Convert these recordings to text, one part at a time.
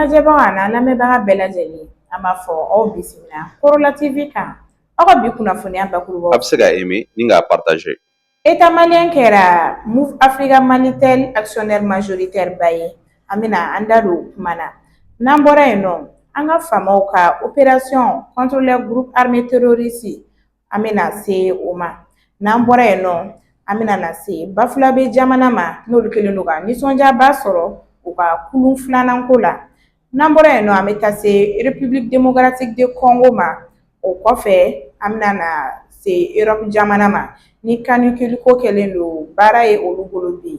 lajɛbaga an'an lamɛnbaga bɛɛ lajɛlen an b'a fɔ aw bisimila korola tv kan aw ka bi kunnafoniya bakurubaw a bɛ se ka aimer ni k'a partager État malien kɛra Moov Africa Malitel actionnaire majoritaire ba ye an bɛna an da don o kuma na n'an bɔra yen nɔ an ka faamaw ka opération contre les groupes armés terroristes an bɛna se o ma n'an bɔra yen nɔ an bɛna na se Bafulabɛ jamana ma n'olu kɛlen don ka nisɔndiyaba sɔrɔ u ka kulun filanan ko la n'an bɔra yen nɔ an bɛ taa se république démocratique de Congo ma o kɔfɛ an bɛna na se Europe jamana ma ni canicule ko kɛlen don baara ye olu bolo bi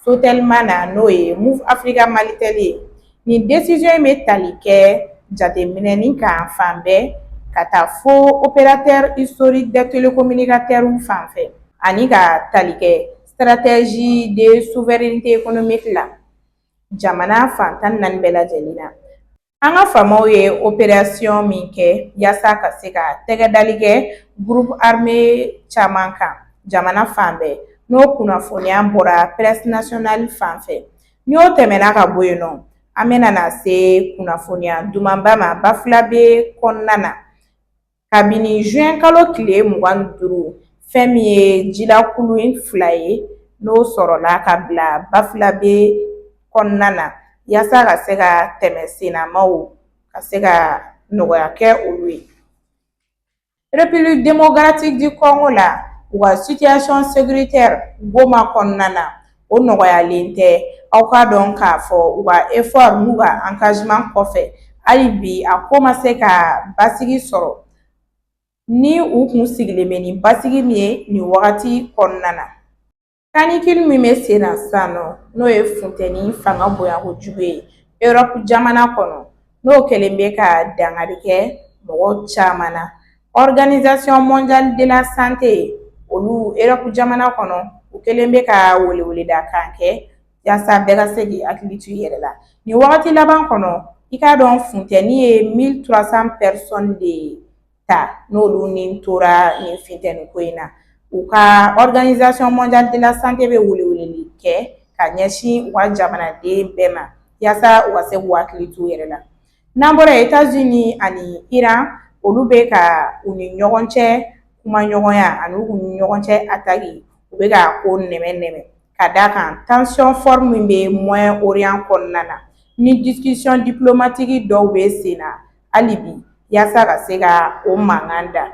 Sotelma na n'o ye Moov Africa Malitel ye nin décision in bɛ tali kɛ jateminɛ ni kan fan bɛɛ ka taa fo opérateur historique des télécommunicateurs fan fɛ ani ka tali kɛ stratégie de souveraineté économique la jamana fan tan naani bɛɛ lajɛlen na An ka faamaw ye opération min kɛ yaasa ka se ka tɛgɛ dali kɛ groupe armé caman kan jamana fan bɛɛ n'o kunnafoniya bɔra presse nationale fan fɛ ni o tɛmɛna ka bɔ yen nɔ an bɛna na se kunnafoniya dumanba ma Bafulabɛ kɔnɔna na kabini zuwɛnkalo tile mugan ni duuru fɛn min ye jilakulun fila ye n'o sɔrɔla ka bila Bafulabɛ kɔnɔna na yasa ka se ka tɛmɛ sennamaw ka se ka nɔgɔya kɛ olu ye République démocratique du Congo la u ka situation sécuritaire Goma kɔnɔna na o nɔgɔyalen tɛ aw k'a dɔn k'a fɔ u ka effort n'u ka engagement kɔfɛ hali bi a ko ma se ka basigi sɔrɔ ni u kun sigilen bɛ ni basigi min ye nin wagati kɔnɔna na canicule min bɛ sen na sisan nɔ n'o ye funteni fanga bonya kojugu ye Europe jamana kɔnɔ n'o kɛlen bɛ ka dankari kɛ mɔgɔ caman na Organisation mondiale de la Santé olu Europe jamana kɔnɔ, u kɛlen bɛ ka weleweleda kan kɛ yasa bɛɛ ka se k'i hakili to i yɛrɛ la. Nin wagati laban kɔnɔ, i k'a dɔn funtɛni ye 1300 personnes de ta n'olu ni tora nin funtɛni ko in na. U ka organisation mondiale de la santé bɛ weleweleli kɛ ka ɲɛsin u ka jamanaden bɛɛ ma yasa u ka se k'u hakili t'u yɛrɛ la. N'an bɔra yen États-Unis ani Iran olu bɛ ka u ni ɲɔgɔn cɛ kuma ɲɔgɔnya ani u ni ɲɔgɔn cɛ attaque u bɛ ka ko nɛmɛ nɛmɛ ka d'a kan tension forte min bɛ Moyen-Orient kɔnɔna na ni discussion diplomatique dɔw bɛ sen na hali bi yaasa ka se ka o mankan da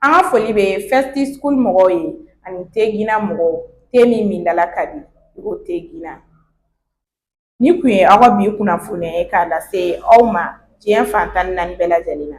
an ka foli bɛ Festi School mɔgɔw ye ani te Gina mɔgɔw te min min dala ka di i ko te Gina Nin kun ye aw ka bi kunnafoniya ye k'a lase aw ma diɲɛ fan tan ni naani bɛɛ lajɛlen na